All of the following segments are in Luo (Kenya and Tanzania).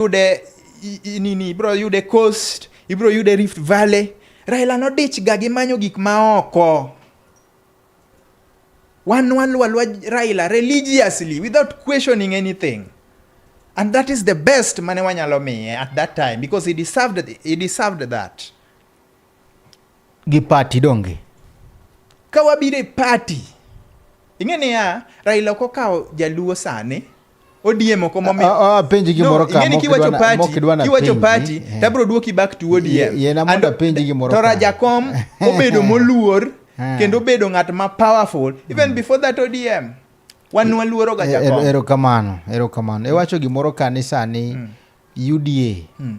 yude nini, ibiro yude Coast, ibiro yude Rift Valley. Raila nodich ga gi manyo gik ma oko. Wan waluwa luwa Raila religiously without questioning anything. And that is the best mane wanyalo miye at that time because he deserved, he deserved that. gi pati donge ka wabiro e pati ing'e niya raila ok okawo jaluo sani ODM ok momi. Apenji gimoro ka. Ingeni kiwacho party, kiwacho party, eh. tabro duoki back to ODM. Ye na mondo apenji gimoro ka. Tora Jakom obedo moluor eh. kendo obedo ng'at ma powerful even mm. before that ODM. Wan waluoro ga eh, Jakom. Ero kamano, ero kamano. Iwacho gimoro ka ni sani mm. UDA mm.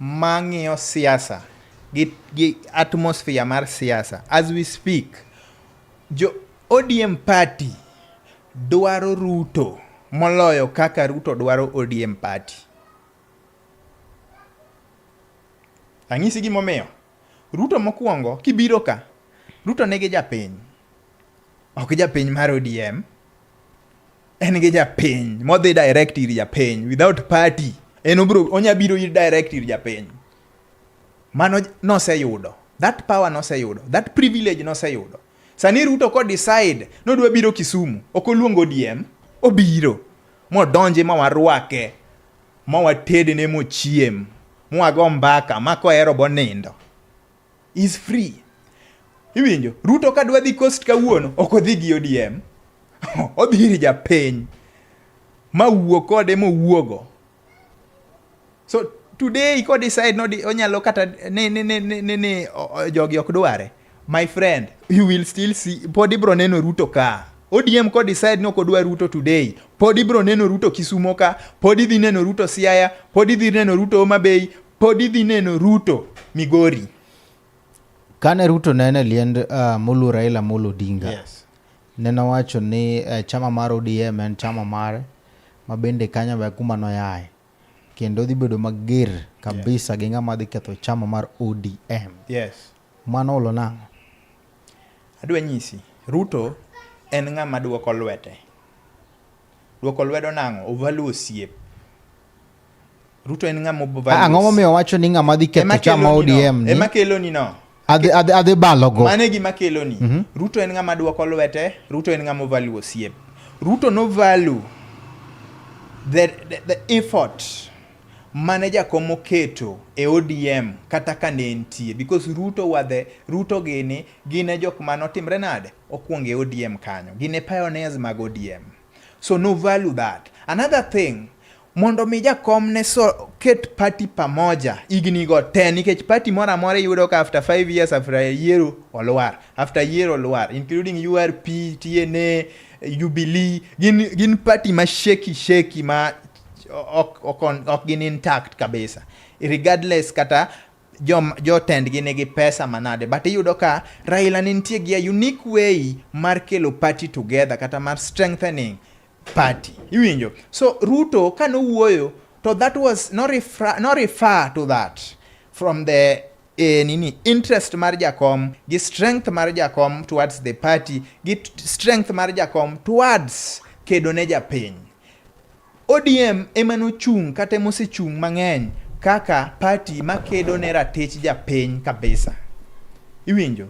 mang'iyo siasa gi, gi atmosphere mar siasa as we speak jo odm party dwaro ruto moloyo kaka ruto dwaro odm party anyisi gimomiyo Ruto mokuongo kibiro ka, Ruto nigi japiny. Ok japiny mar ODM. En gi japiny modhi direct ir japiny without party. En obro onya biro ir direct ir japiny. Mano noseyudo. That power noseyudo. That privilege noseyudo. Sani Ruto ko decide nodwa biro Kisumu, ok oluongo ODM, obiro modonji ma warwake ma watedne mochiem mwago mbaka ma kohero bonindo is free iwinjo ruto ka dwa dhi coast kawuono ok odhi gi odm odhi ir japiny ma wuo kode mowuogo so today ko decide nodi onyalo kata ni, ni, ni, ni, ni, ni o- o- jogi ok dware My friend, you will still see, pod ibro neno Ruto ka. ODM ko decide ni ok odwa Ruto today, pod ibro neno Ruto Kisumo ka, pod idhi neno Ruto Siaya, pod idhi neno Ruto Homa Bay, pod idhi neno Ruto Migori. Kane Ruto nene liend uh, Mulu Raila Amolo Odinga. Yes. Nene wacho ni uh, chama mar ODM en chama mare ma bende kanyo be kuma noyaye kendo dhi bedo mager kabisa yes. gi ng'ama dhi ketho chama mar ODM. Yes. Mano olo nang'o? Adwa nyisi, Ruto en ng'ama duoko lwete. Duoko lwedo nang'o? Ovalu osiep. Ruto en ng'ama ovalu. Ang'o momiyo wacho ni ng'ama dhi ketho chama ODM ni? Ema kelo ni no. Adhi adhi adhi balo go. Mane gima kelo ni. Mm -hmm. Ruto en ng'ama duoko lwete, Ruto en ng'ama ovalu osiep. Ruto no value the, the, the effort mane jakom moketo e ODM kata ka ne entie because Ruto wa the Ruto gini gine jok mane otimre nade okwongo e ODM kanyo gine pioneers mag ODM so no value that another thing mondo mi jakom ne so ket party pamoja igni go te nikech party moro amora yudo ka after 5 years after a year olwar after year olwar including URP, TNA, Jubilee gin gin party ma sheki sheki ma ok, ok, ok gin intact kabisa regardless kata jotendgi jo nigi pesa manade but iyudo ka Raila ne nitie gi a unique way mar kelo party together kata mar strengthening party iwinjo so Ruto ka nowuoyo to that was no refer, no refer to that from the eh, nini interest mar jakom gi strength mar jakom towards the party gi strength mar jakom towards kedo ne japiny ODM ema nochung' kata ema osechung' mang'eny kaka party makedo ne ratich japiny kabisa. Iwinjo?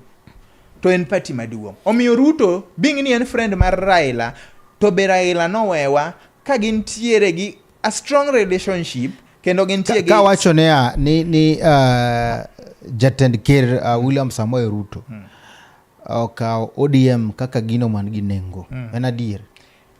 To en party maduong'. Omiyo Ruto being ni en friend mar Raila to be Raila nowewa ka gintiere gi a strong relationship kendo gintie ka wacho ne a ni ni uh, jatend ker uh, William Samoei Ruto hmm. okawo ODM kaka gino man gi nengo. Hmm. En adier.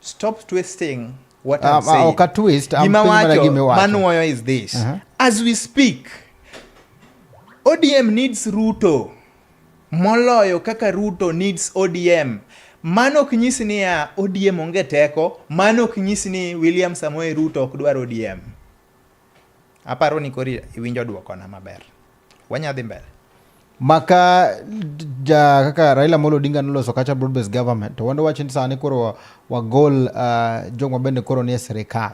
Stop twisting what I'm ah, ah, saying. Okay, twist. Gima wacho, manuoyo is this. Uh-huh. As we speak, ODM needs Ruto moloyo kaka Ruto needs ODM. Mano ok nyis ni ya ODM onge teko, mano ok nyis ni William Samoei Ruto ok dwar ODM. Aparo ni kori iwinjo dwokona maber. Wanya dhi mbele. Maka ja kaka Raila Molo Odinga noloso kacha broad based government to wando wacho ni sani koro wagol uh, ah, joma bende koro nie sirikal.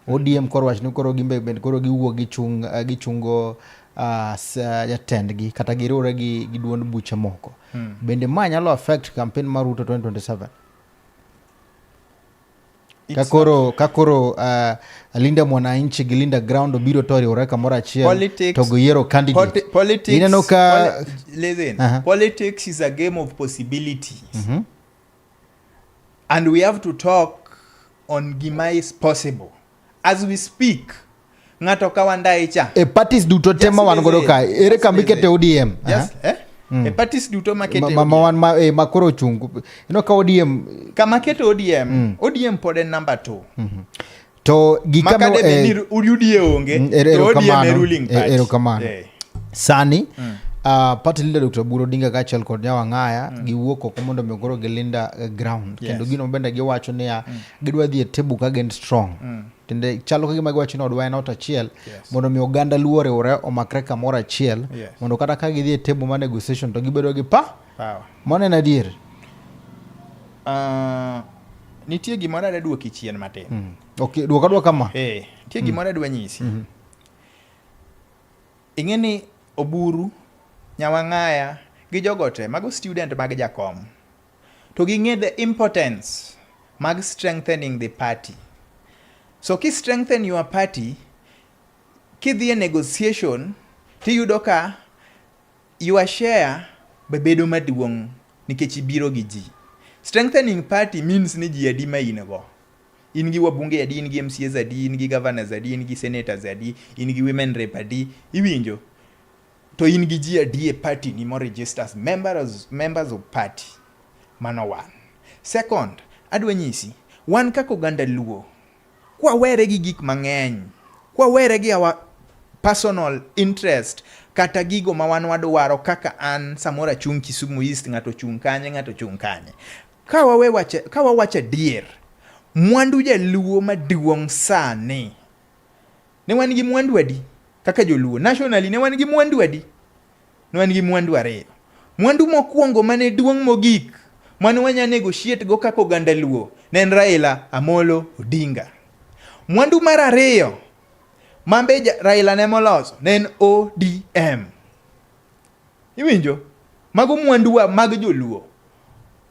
ODM koro wacho ni koro gimbe bende koro giwuok gichung uh, gichungo Ah, ah, jatendgi kata giriwre gi, gi duond buche moko hmm. bende ma nyalo affect campaign mar Ruto 2027 kakoro kakoro uh, ah, linda mwananchi gi linda ground obiro to oriwore kamoro achiel to giyiero candidate politics, ineno ka listen uh -huh. politics is a game of possibilities mm -hmm. and we have to talk on gima is possible as we speak ng'ato kawa ndaye cha e parties duto te ma wan godo ka ere kambi kete odm yes, eh? mm. e parties duto ma kete ma wan ma e ma koro chung ino ka odm kama kete odm mm. odm pod en number 2 mm -hmm. to gikano e eh, ni udie onge mm, er, to odm e ruling eh, party ero kamano eh. sani mm. Uh, party leader Dr. Buro Dinga kaachiel kod Nyawang'aya mm. giwuok oko mondo mi koro gilinda uh, ground yes. kendo gino bende giwacho niya mm. gidwa dhi e table ka gin strong mm. tende chalo ka gima giwacho ni odwa en ot achiel yes. mondo mi oganda luo oriwre omakre kamoro achiel yes. mondo kata ka gidhi e table ma negotiation to gibedo gi pa power mano en adier uh, nitie gimoro ada duoki chien matin mm. okay, duoka duoka ma hey, eh, nitie mm. gimoro adwa nyisi mm -hmm. ing'e ni oburu nyawang'aya gi jogote mago student mag jakom to ging'e the importance mag strengthening the party. So ki strengthen your party, kidhi e negotiation tiyudo ka your share be bedo maduong' nikech ibiro gi ji. Strengthening party means ni ji adi ma in go. In gi wabunge adi, in gi MCAs adi, in gi governors adi, in gi senators adi, in gi women rep adi, iwinjo? To in gi ji adi e party ni mo register as members, members of party? Mano one. Second, adwa nyisi, wan kaka oganda Luo, kwawere gi gik mang'eny, kwawere gi our personal interest kata gigo ma wan wadwaro kaka an samoro achung' Kisumu East, ng'ato ochung' kanye, ng'ato ochung' kanye. Ka wawe wache, ka wawacho adier, mwandu jaluo maduong' sani Ne wan gi mwandu adi kaka joluo? Nationally ne wan gi mwandu adi? Ne wan gi mwandu ariyo. Mwandu mokwongo mane duong' mogik mane wanya negotiate go kaka oganda luo ne en Raila Amolo Odinga. Mwandu mar ariyo mambe Raila ne moloso ne en ODM. Iwinjo? Mago mwanduwa mag joluo.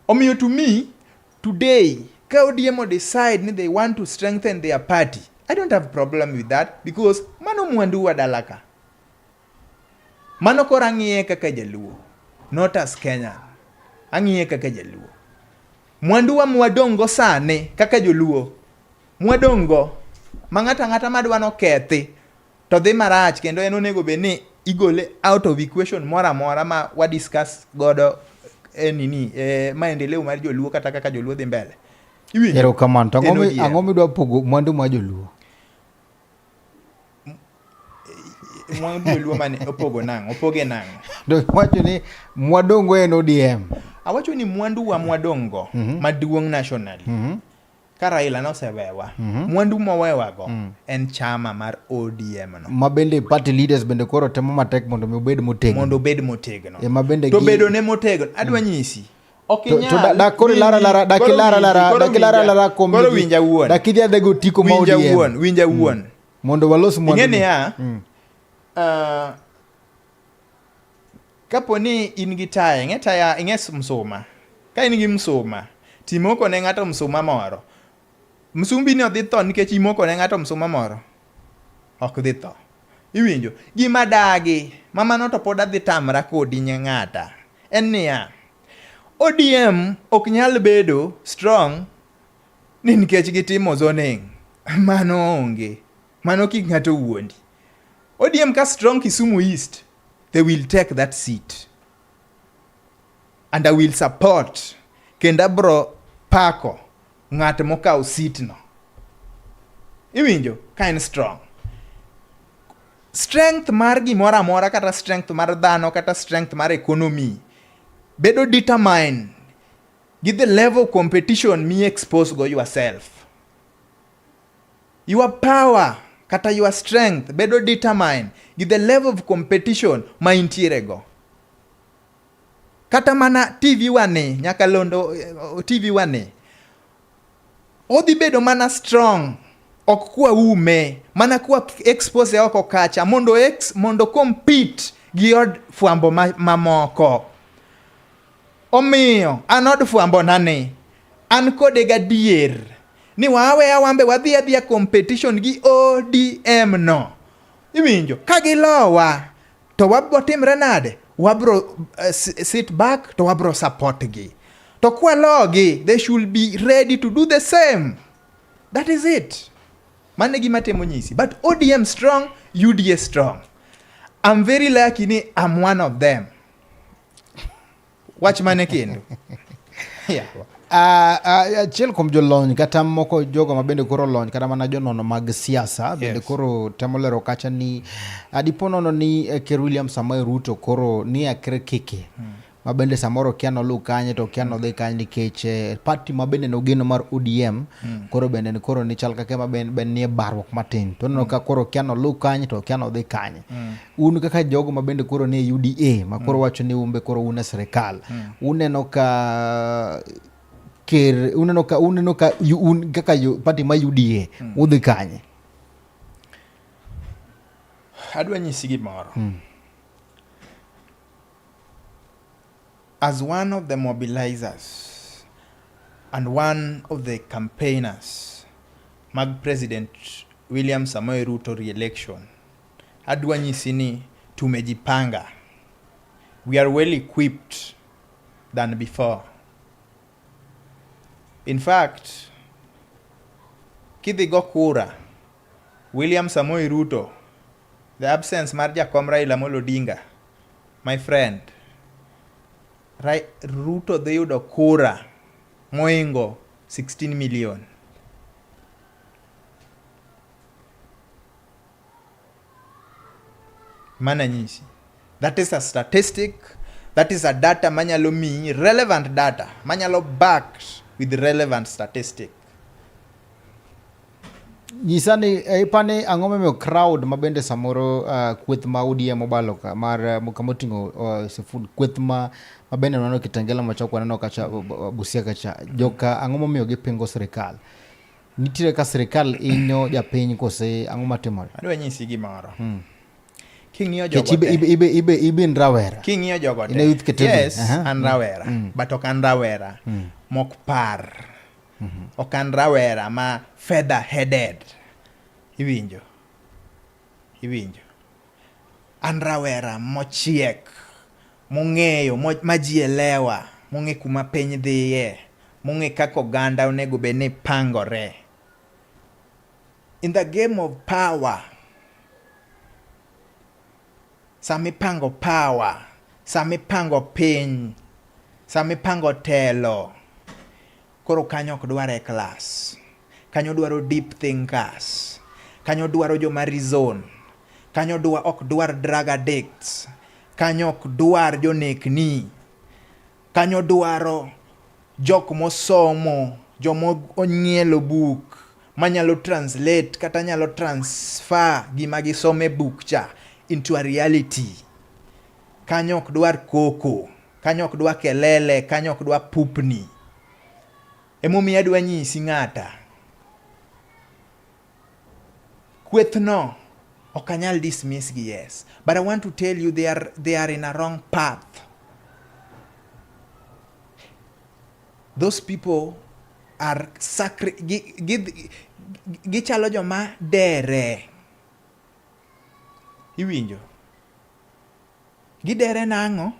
Omiyo to me Today, ka ODM o decide ni they want to strengthen their party, I don't have problem with that because mano mwandu wa dalaka. Mano kora ng'iye kaka jaluo, not as Kenya. Ang'iye kaka jaluo. Mwandu wa mwadongo sane kaka joluo. Mwadongo ma ng'ata ng'ata madwa no kethi to dhi marach kendo en onego bed ni igole out of equation moro amora ma wa discuss godo e nini e maendeleo mar joluo kata kaka joluo dhi mbele erokamano to ang'o midwa pogo mwandu ma joluo mwandu joluo mane opogo nang'o opoge nang'o wacho ni mwadongo en odm awacho ni mwandu wa mwadongo mm -hmm. maduong' nationally mm -hmm. ka Raila nosewewa mm -hmm. mwandu mowewago mm. en chama mar ODM no ma bende party leaders bende koro temo matek mondo mi obed motegno mondo obed motegno e ma bende to bedo ne motegno adwa mm. nyisi winja mm. wuon mondo walos mwandu niya mm. uh, Kapo ni in gi taya, ing'e taya, ing'e msuma. Ka in gi msuma, timoko ne ng'ato msuma moro. Msumbi ni odhi tho nikech imoko ne ng'ato msuma moro? Ok dhi tho. Iwinjo? Gima dagi, ma mano to pod adhi tamra kodi nye ng'ata. En niya, ODM ok nyal bedo strong ni nikech gitimo zoning. Mano onge. Mano kik ng'ato wuondi. ODM ka strong Kisumu East, they will take that seat and I will support kendo abro pako ng'at mokawo sitno. Iwinjo ka en strong. Strength mar gimoro amora kata strength mar dhano kata strength mar economy bedo determined gi the level of competition mi expose go yourself. Your power kata your strength bedo determine gi the level of competition ma intiere go. Kata mana TV wani, nyaka londo eh, TV wani, odhi bedo mana strong ok kwa ume mana kwa expose oko kacha mondo ex, mondo compete gi od fwambo mamoko ma Omiyo, an od fwambona ni, an kode gadier ni waaweya wambe wadhi adhiya competition gi ODM no. Iwinjo, ka gilowa to wabro timre nade? Wabro uh, sit back to wabro support gi. To kwalogi, they should be ready to do the same. That is it. Mane gima temo nyisi. But ODM strong, UDA strong. I'm very lucky ni I'm one of them. wach mane kendo yeah. Ah, ah, achiel kuom jolony kata moko jogo ma bende koro lony kata mana jonono mag siasa bende koro temo lero kacha ni ah, dipo nono ni eh, ker William Samoei Ruto koro ni akre keke hmm. ma bende samoro kia noluw kanye to kia nodhi kanye nikech eh, party ma bende nogeno mar ODM hmm. koro bende ni koro ni chal kake ma bende nie barruok matin to nono hmm. ka koro kia noluw kanye to kia nodhi kanye un kaka jogo ma bende koro nie UDA ma koro mm. wacho ni umbe koro une sirikal mm. uneno ka ker uneno ka uneno ka un kaka party ma UDA mm. udhi kanye adwa nyisi gimoro mm. as one of the mobilizers and one of the campaigners mag president William Samoei Ruto re-election Adwa nyisi ni tumejipanga. We are well equipped than before. In fact, kidhi go kura, William Samoei Ruto, the absence mar jakom Raila Amolo Odinga, my friend, Rai, Ruto dhi yudo kura moingo 16 million. mana nyisi that is a statistic that is a data manyalo miyi relevant data manyalo backed with relevant statistic nyisa ni eh, ipani ang'o momiyo crowd ma bende samoro uh, kweth ma ODM obalo ka mar eh, kama oting'o uh, Sifun kweth ma ma bende waneno Kitengela machok waneno kacha Busia kacha joka ang'o momiyo gipingo sirikal Nitiere ka sirkal inyo japiny kose ang'o matimore? Adwa nyisi gimoro. Hmm. King'iyo jogo ibe, ibe, ibe, ibe, ibe in rawera. King'iyo jogo te. Youth category. Yes, uh -huh. an rawera. Mm. mm. But ok an rawera. Mm. Mok par. Mm -hmm. Ok an rawera ma feather headed. Iwinjo. Iwinjo. An rawera mochiek, mong'eyo, ma ji elewa, mong'e kuma piny dhiye, mong'e kaka oganda onego bed ni pangore. In the game of power, sama ipango power, sama ipango piny, sama ipango telo, Koro kanyo ok dwar e class. Kanyo dwaro deep thinkers. Kanyo dwaro joma reason. Kanyo dwa, ok dwar drug addicts. Kanyo ok dwar jonekni. Kanyo dwaro jok mosomo, joma ong'ielo buk manyalo translate kata nyalo transfer gima gisomo e buk cha into a reality. Kanyo ok dwar koko. Kanyo ok dwa kelele, kanyo ok dwa pupni. Emomiyo adwa nyisi ng'ata. Kwethno ok anyal dismiss gi yes. But I want to tell you they are, they are in a wrong path. Those people are sacri gichalo joma dere. Iwinjo? Gidere nang'o?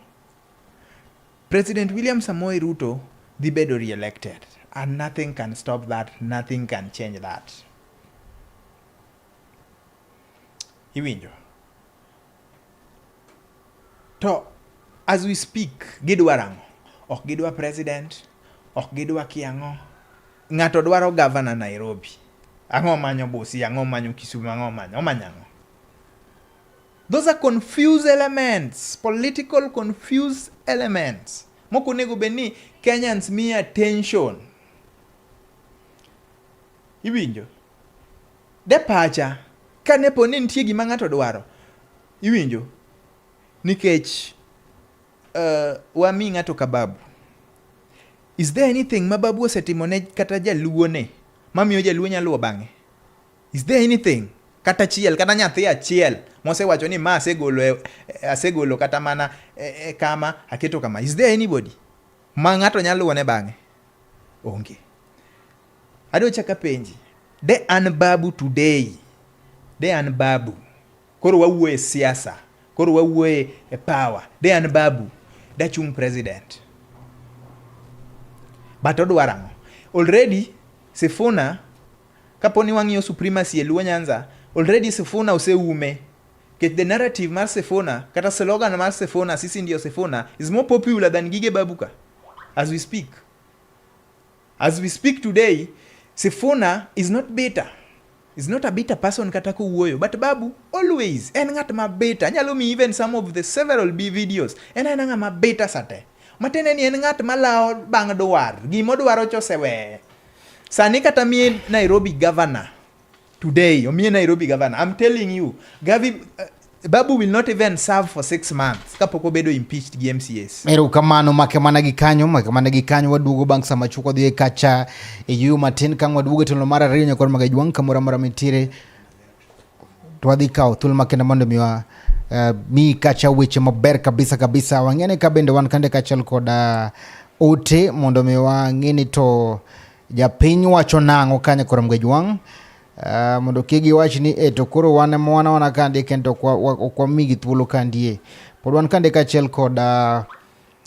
President William Samoei Ruto dhi bedo re-elected and nothing can stop that, nothing can change that. Iwinjo? To as we speak gidwa rang'o? Ok gidwa president, ok gidwa kiang'o. Ng'ato dwaro governor Nairobi. Ang'o manyo Busia, ang'o manyo Kisumu, ang'o manyo, omanyo ang'o? Those are confused elements, political confused elements. Moko onego bed ni Kenyans mi attention. Iwinjo? De pacha, ka ne po ni nitie gima ng'ato dwaro, iwinjo? Nikech uh, wami ng'ato kababu. Is there anything ma babu osetimo ne kata jaluo ne mamiyo jaluo nyaluo bang'e? Is there anything kata achiel kata nyathi achiel mosewacho ni ma asegolo e, e, asegolo kata mana e, kama aketo kama is there anybody ma ng'ato nyalo luwone bang'e onge adwa chako apenji de an babu today de an babu koro wawuo e siasa koro wawuo e power de an babu dachung president but odwar ang'o already sifuna Kapo ni wang'iyo supremacy e Luo Nyanza, already Sifuna oseume. Nikech the narrative mar Sifuna kata slogan mar Sifuna, sisi ndio Sifuna is more popular than gige Babuka as we speak. As we speak today, Sifuna is not bitter is not a bitter person kata kowuoyo but babu always en ng'at ma bitter anyalo mi even some of the several b videos en en ng'at ma bitter sate matene ni en ng'at ma lawo bang' dwar gimodwaro choseweye Sani kata mie Nairobi governor today, omie Nairobi governor. I'm telling you, Gavi uh, Babu will not even serve for six months kapok obedo impeached gi MCS. Ero kamano make mana gi kanyo, make mana gi kanyo waduogo bang' sama chuko dhi kacha e yuyo matin kang' waduogo e tolo mar ariyo nyakor magajwang' kamora mora mitire twadhi kawo thuolo makende mondo miwa uh, eh, mi kacha weche maber kabisa kabisa wang'ene ka bende wan kande kaachiel kod uh, ote mondo mi wang'e ni to japiny wacho nang'o kanye koro mgej wang' uh, mondo kik giwach ni e to koro wan ema wana wana kandie kendo ok wamigi thuolo kandie pod wan kande kaachiel kod uh,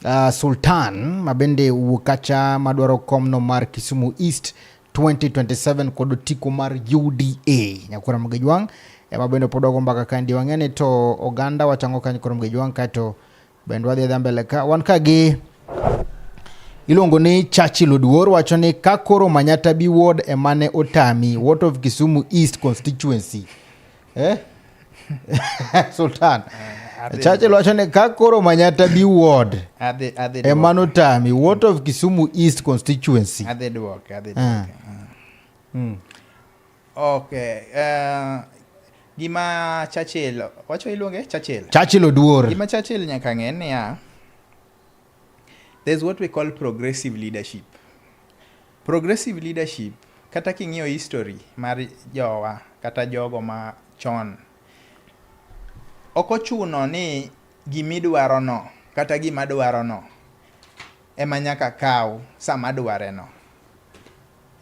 uh, sultan mabende wuok kacha madwaro komno mar kisumu east 2027 kod otiko mar UDA Nyakura Mgejwang' ema bende pod wago mbaka ka ndi wang'eni to oganda wachango ka Nyakura Mgejwang' kaeto bende wadhi adhi mbele ka wan ka gi iluongo ni Churchill Oduor wacho ni ka koro Manyata bi ward emane otami what of Kisumu East constituency eh? sultan eh, churchill wacho ni ka koro manyata bi ward ema notami wot of kisumu east constituency adhi dwoke adhi dwoke ah. ah. hmm. okay uh, gima churchill wacho iluonge churchill churchill oduor gima churchill nyaka ng'e niya There's what we call progressive leadership. Progressive leadership kata king'iyo history mar jowa kata jogo ma chon, ok ochuno ni gimidwarono kata gimadwarono ema nyaka kaw sama adwareno.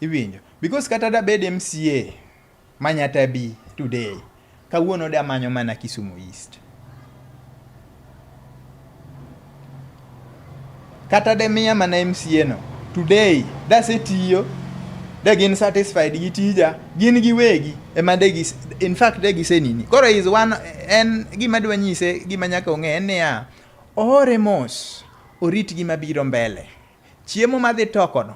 Iwinjo? Because kata da bed MCA manyata bi today, kawuono da manyo mana Kisumu East. Kata de miya mana MCA no, today da se tiyo de gin satisfied gi tija gin gi wegi ema de gi in fact de gise nini koro is one en gima dwa nyise gima nyaka ong'e en niya oore mos orit gima biro mbele chiemo madhi tokono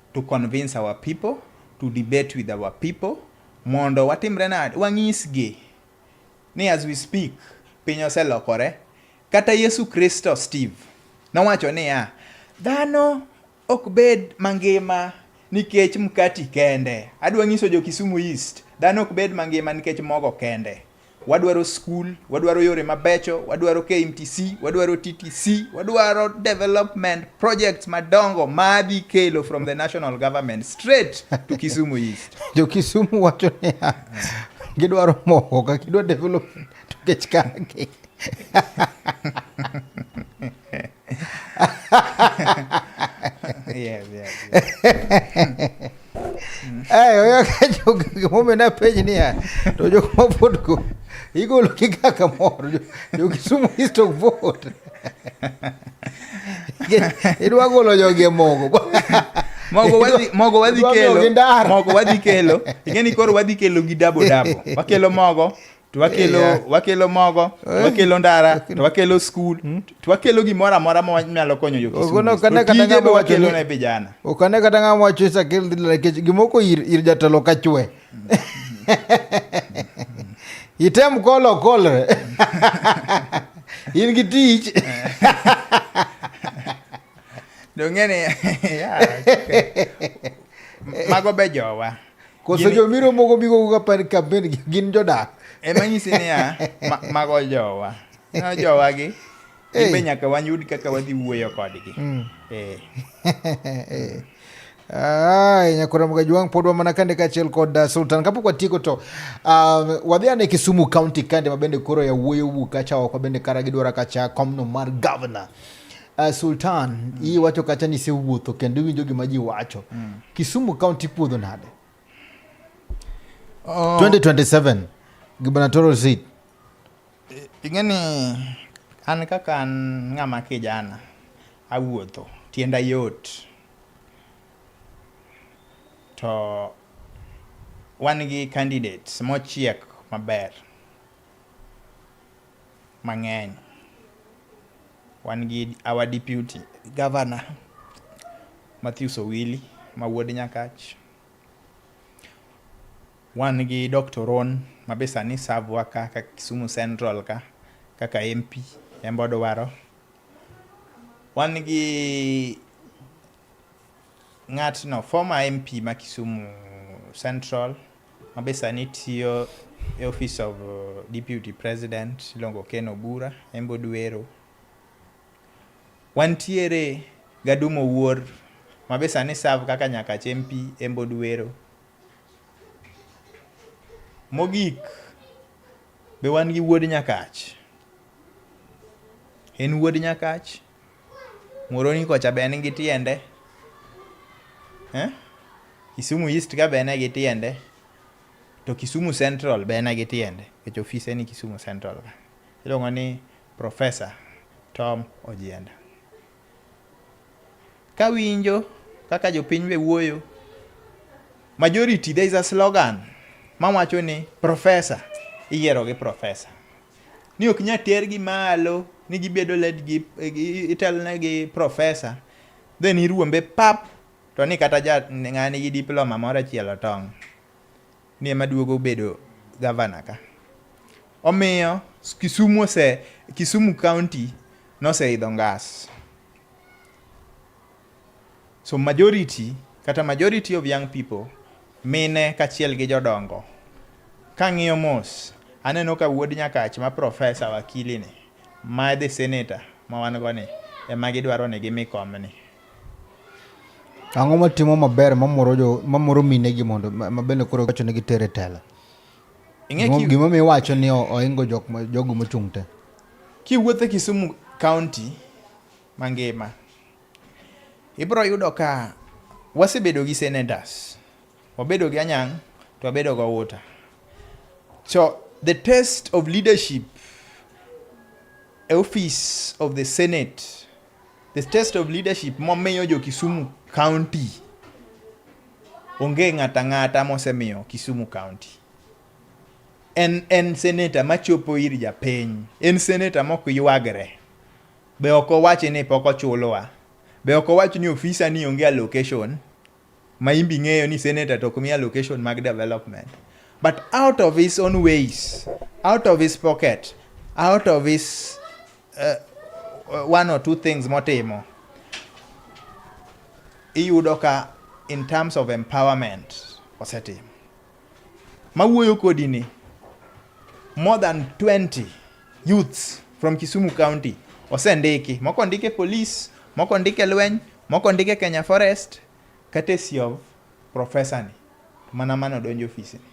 to convince our people, to debate with our people, mondo watimre nade? Wang'isgi ni as we speak, piny oselokore. Kata Yesu Kristo Steve nowacho niya, dhano ok bed mangima nikech mkati kende. Adwa nyiso jo Kisumu East, dhano ok bed mangima nikech mogo kende. wadwaro skul, wadwaro yore mabecho, wadwaro KMTC, wadwaro TTC, wadwaro development projects madongo madhi kelo from the national government straight to Kisumu East. Jo Kisumu wacho ni gidwaro moho ka gidwa development to kech kake. yes, yes, yes. ay oyo kajo gimomiyo napenj niya to jok ma vote go igolo gi ga kamoro jokisumu east ok vote idwa golo jogi e mogo mogo wadhi mogo wadhi kelo mogo wadhi kelo ingeni koro wadhi kelo gi dabo dabo wakelo mogo to wakelo yeah. wakelo mogo to eh. wakelo ndara okay. to wakelo skul hmm? to wakelo gimoro amora manyalo konyo jokisutije be wakelo ne vijana okane kata ng'a mwacho isakel dhi nikech gimoko ir, ir jatelo kachwe item kolo okolre in gi tich dong'eni mago be jowa Koso Gini- jobiro moko bigo ka pan kampen gi- gin jodak. ema nyisi niya ma, mago jowa no jowagi Hey. hey. be nyaka wayud kaka wadhi wuoyo kodgi Mm. eh. Eh. Ay, nyakora mgajwang pod wamana kande kaachiel kod uh, sultan kapok watieko to um, wadhi ane kisumu county kande mabende koro yawuoyo wuok kacha oko bende kara gidwara kacha komno mar governor Uh, Sultan, mm. iyi wacho kacha ni isewuotho kendo iwinjo gima ji wacho. Mm. Kisumu County puodho nade? Uh, 2027 gubernatorial seat. Ing'eni an kaka an ng'ama kijana awuotho tienda yot to wan gi candidates mochiek maber mang'eny. Wan gi our deputy governor Mathews Owili ma wuod Nyakach. Wan gi Doctor Oron ma be sani serve wa ka ka Kisumu Central ka kaka MP en be odwaro. Wan gi ng'atno former MP ma Kisumu Central Ma be sani tiyo e office of Deputy President iluongo Ken Obura, en be odwero. Wantiere gi Adum Owuor ma be sani serve kaka Nyakach MP en be odwero. Mogik be wan gi wuod Nyakach, en wuod Nyakach. Muhoroni kocha be en gi tiende? Eh? Kisumu East ka be en gi tiende? To Kisumu Central be en gi tiende? Nikech ofise ni Kisumu Central ka. Iluongo ni Professor Tom Ojienda. Kawinjo kaka jopiny be wuoyo, majority there is a slogan mawacho ni professor iyiero gi professor. ni ok nya tergi malo ni gibedo led gi itelne gi profesa then iruombe pap to ni kata ja ng'ani gi diploma moro achiel otong' ni ema duogo bedo gavana ka omiyo Kisumu ose Kisumu county noseidho ngas So majority kata majority of young people mine kachiel gi jodongo. Kang'iyo mos aneno ka wuod Nyakach ma profesa wakili ni ma the senator ma wan go ni ema gidwaro ni gimi kom ni. Ang'o matimo maber mamoro jo mamoro mine gi mondo mabende koro wacho ni gitere tela. Gima mi wacho ni oingo jok jogo mochung' te. Kiwuothe Kisumu County mangima. Ibiro yudo ka wasebedo gi senators, wabedo gi Anyang' to wabedo gi Outa. So the test of leadership e office of the Senate, the test of leadership momiyo jo Kisumu County onge ng'ata ng'ata mosemiyo Kisumu County. En en senator machopo ir japiny, en senator mok ywagre. Be ok owachi ni pok ochulowa? Be ok owachi ni ofisa ni onge allocation? Ma in be ing'eyo ni senator to ok mi allocation mag development. But out of his own ways, out of his pocket, out of his uh, uh one or two things motimo, iyudo ka in terms of empowerment osetimo. Mawuoyo kodi ni more than 20 youths from Kisumu County osendiki. Moko ndike police, moko ndike lweny, moko ndike Kenya Forest, courtesy of professor ni. Mana mano donjo ofisi ni.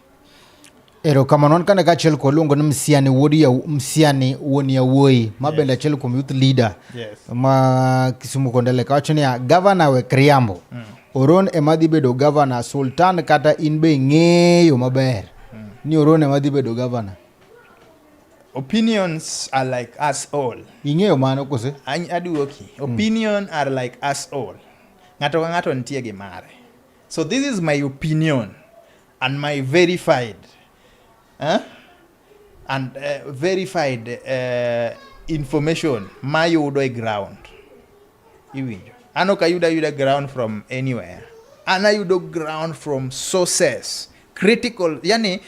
Ero kamano an kane kachiel kwa luongo ni Msiani wuod ya Msiani wuon yawuoyi ma bende achiel kuom youth leader yes. ma Kisumu Kondele kawacho niya gavana wek riambo mm. Oron ema dhi bedo gavana. Sultan kata in be ing'eyo maber ni Oron ema dhi bedo gavana. Opinions are like us all. Ing'eyo mano kose? Aduoki. Hmm. Opinion are like us all. Ng'ato ka ng'ato nitie gi mare. So this is my opinion and my verified. Huh? Eh? and uh, verified uh, information mayudo e ground iwinjo an ok ayudo ayuda ground from anywhere an ayudo ground from sources critical yani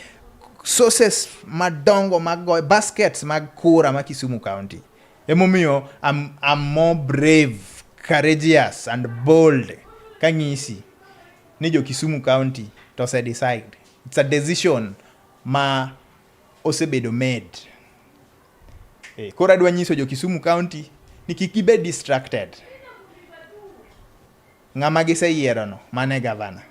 sources madongo mag baskets mag kura ma Kisumu County emomiyo I'm, I'm more brave courageous and bold kang'isi ni jo Kisumu County to se decide it's a decision ma osebedo med. E, koro adwa nyiso jo Kisumu County ni kik gibed distracted. Ng'ama giseyierono mano e gavana.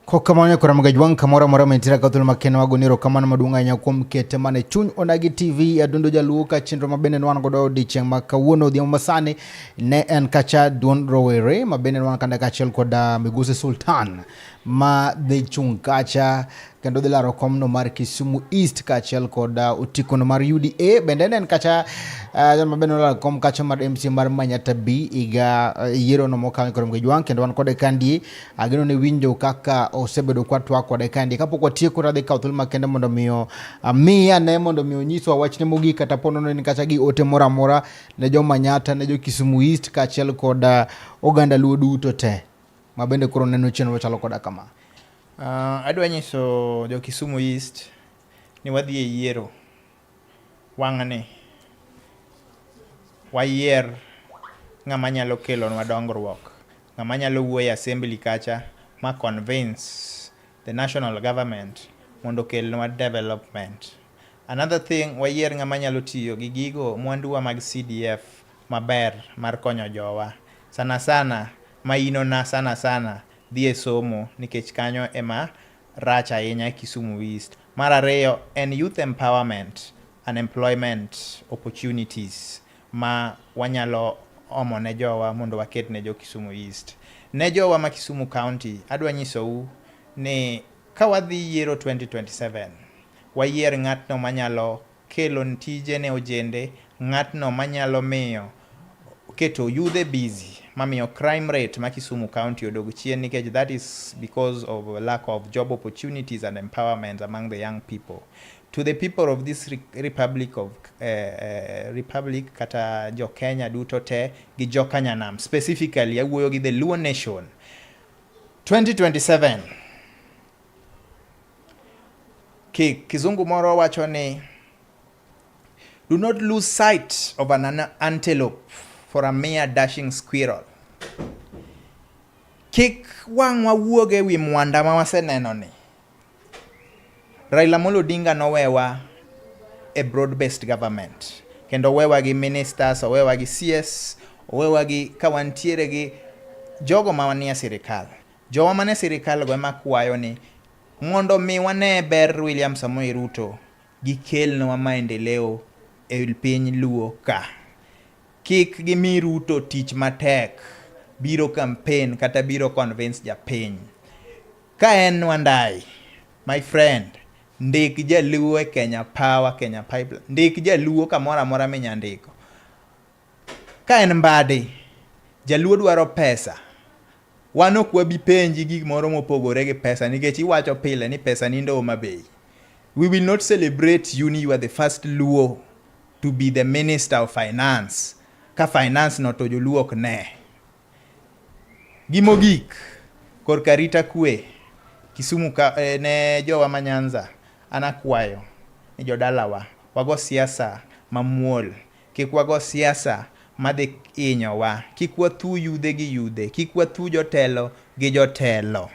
Kokamano kora magajwang' kamoro amora mentira ka thuolo makeno wago niro kamano maduong' ahinya kuom kete mane chuny onagi TV adundo jaluo ka chenro mabende nwan godo odiechieng' ma kawuono odhiambo masani ne en kacha duond rowere mabende nwan kanda kaachiel kod ah, migosi Sultan ma dhi chung' kacha kendo dhi laro komno mar Kisumu East kaachiel kod uh, otikono mar UDA bende en kacha uh, jal ma bende olaro kom kacha mar MC mar Manyata B iga uh, yiero no mokalo koro mgejwang kendo wan kode kandi ageno ne winjo kaka osebedo kwa twa kode kandi kapok watieko radhi kawo thuolo makende mondo miyo miya ne mondo miyo nyiswa wachne mogik kata pono ne kacha gi ote moro amora ne jo Manyata ne jo Kisumu East kaachiel kod oganda Luo duto te ma bende koro neno chenro chalo koda kama. Uh, adwa nyiso jo Kisumu East ni wadhi e yiero wang'ni wayier ng'ama nyalo kelonwa dongruok, ng'ama nyalo wuoyo e assembly kacha ma convince the national government mondo okelnwa development. Another thing, wayier ng'ama nyalo tiyo gi gigo mwanduwa mag CDF maber mar konyo jowa. Sana sana mainona sana sana dhi e somo nikech kanyo ema rach ahinya Kisumu East. Mar ariyo en youth empowerment and employment opportunities. ma wanyalo omo ne jowa mondo waket ne jo Kisumu East. Ne jowa ma Kisumu County, adwa nyisou ni ka wadhi yiero 2027, wayier ng'atno manyalo kelo tije ne ojende, ng'atno manyalo miyo keto yudhe busy mamiyo crime rate ma Kisumu County odog chien nikech that is because of lack of job opportunities and empowerment among the young people. To the people of this republic of uh, uh, republic kata jo Kenya duto te gi jo Kanyanam specifically awuoyo gi the Luo nation 2027 ki kizungu moro wacho ni do not lose sight of an antelope for a mere dashing squirrel kik wang'wa wuog e wi mwanda ma waseneno ni Raila Amolo Odinga nowewa a broad based government kendo owewa gi ministers, owewa gi CS, owewa gi ka wantiere gi jogo ma wanie sirikal. Jowa mane sirikal go ema kwayo ni mondo mi wane ber William Samoei Ruto gikelnwa maendeleo e piny Luo ka. Kik gimi Ruto tich matek biro campaign kata biro convince japiny. Ka en Wandai, my friend, ndik jaluo e Kenya Power, Kenya Pipeline. Ndik jaluo kamoro amora minya ndiko. Ka en Mbadi, jaluo dwaro pesa. Wan ok wabi penji gik moro mopogore gi pesa nikech iwacho pile ni pesa ni ndo ma bei. We will not celebrate you ni you are the first Luo to be the Minister of Finance. Ka finance no to joluo ok ne. Gi mogik, korka arita kwe Kisumu ka, eh, ne jowa ma Nyanza, an akwayo ni jodalawa wago siasa mamuol, kik wago siasa madhi inyowa, kik wathu yudhe gi yudhe, kik wathu jotelo gi jotelo.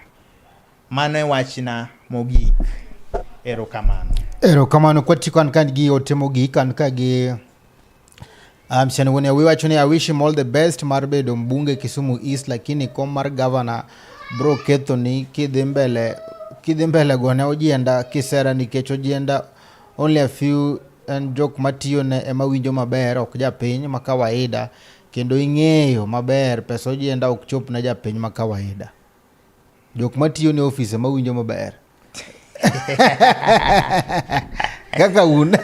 Mano e wachna mogik. Erokamano. Erokamano kwati kan kan gi ote mogik kan ka gi Um, Shanigunia we wacho ni I wish him all the best mar bedo mbunge Kisumu East lakini kom mar governor bro ketho ni kidhi mbele kidhi mbele gone ojienda kisera nikech ojienda only a few and jok matiyo ne ema winjo maber ok japiny ma kawaida kendo ing'eyo maber pesa ojienda ok chop ne japiny ma kawaida Jok matiyo ne ofise mawinjo maber. Kaka un.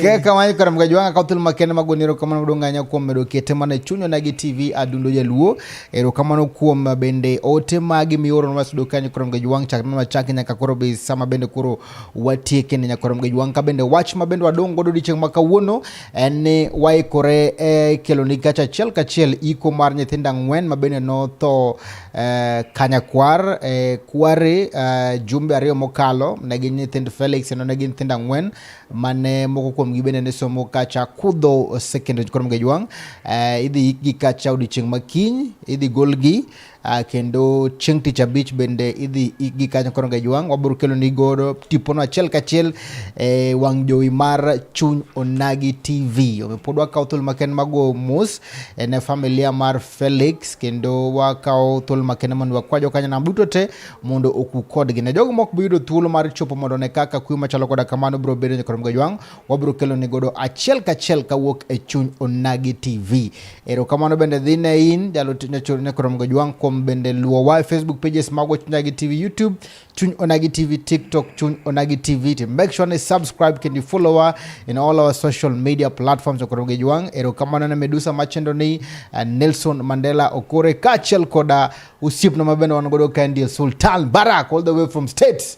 Kaka wany kora mga jwanga ka utul makene magoni ero kamano kudu nganya kuom medo kete mane chunyo nagi TV adundo jaluo ero kamano kuom bende ote magi mioro nwa sudo kanyo kora mga jwang chakna nwa chaki nyaka koro be sama bende koro watieke ne nyakwarom gi jwang' ka bende wach ma bende wadong' godo odiechieng' ma kawuono en ni waikore e kelo ni gacha achiel kachiel iko mar nyithindo ang'wen ma bende notho e, kanyakwar e, kware e, jumbe ariyo mokalo ne gin nyithind Felix kendo ne gin nyithindo ang'wen mane moko kuom gi bende ne somo kacha kudho secondary nyakwarom gi jwang' e, idhi ikgi kacha odiechieng' ma kiny idhi golgi Uh, kendo chieng' tich abich bende idhi ikgi kanyo koro ngejwang' wabiro kelo ni godo tipono achiel kachiel e eh, wang' jowi mar chuny onagi tv omiyo pod wakawo thuolo maken mago mos eh, ne familia mar felix kendo wakawo thuolo maken mondo wakwa jokanyanam duto te mondo oku kodgi ne jogo mok biyudo thuolo mar chopo mondo ne kaka kuyo machalo koda kamano biro bedo nyakoro ngejwang' wabiro kelo ni godo achiel kachiel kawuok e chuny Onagi TV. Erokamano bende dhi ne in jalo ne korom go jwang kuom bende luwo wa e Facebook pages mago chuny Onagi TV YouTube chuny Onagi TV TikTok chuny Onagi TV to make sure ni subscribe kendo follow wa in all our social media platforms korom go jwang. Erokamano ne Medusa machendo ni eh, Nelson Mandela Okore kachiel koda usiepno mabende wan godo kae ndiye Sultan Barak all the way from states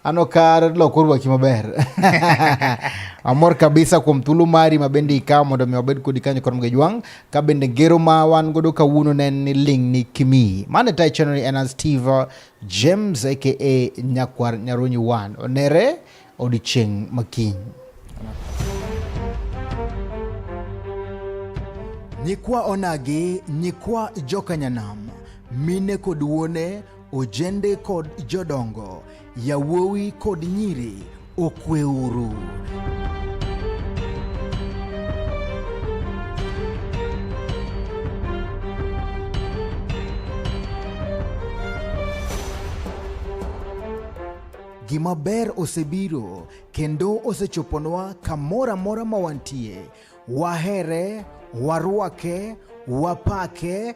Ano kar loko rwaki maber. Amor kabisa kuom thulu mari ma bende ikawo mondo mi wabed kodi kanyo kod mgejwang' ka bende ngero ma wan godo kawuono ne ni ling' ni kimi. Mane tai chenro en an Steve James aka Nyakwar Nyarunyi Wan. Onere odichieng' makiny. Nyikwa onagi, nyikwa jokanyanam, mine kod wuone Ojende kod jodongo, yawuowi kod nyiri, okweuru. Gima ber osebiro kendo osechoponwa kamoro amora ma wantie. Wahere, warwake, wapake,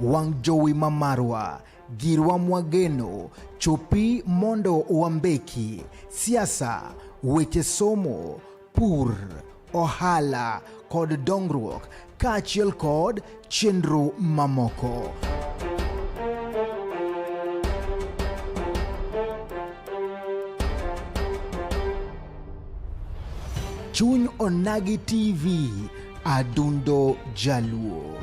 wang' jowi ma marwa girwa mwageno chopi mondo wambeki siasa weche somo pur ohala kod dongruok kaachiel kod chenro mamoko. Chuny Onagi TV, Adundo Jaluo.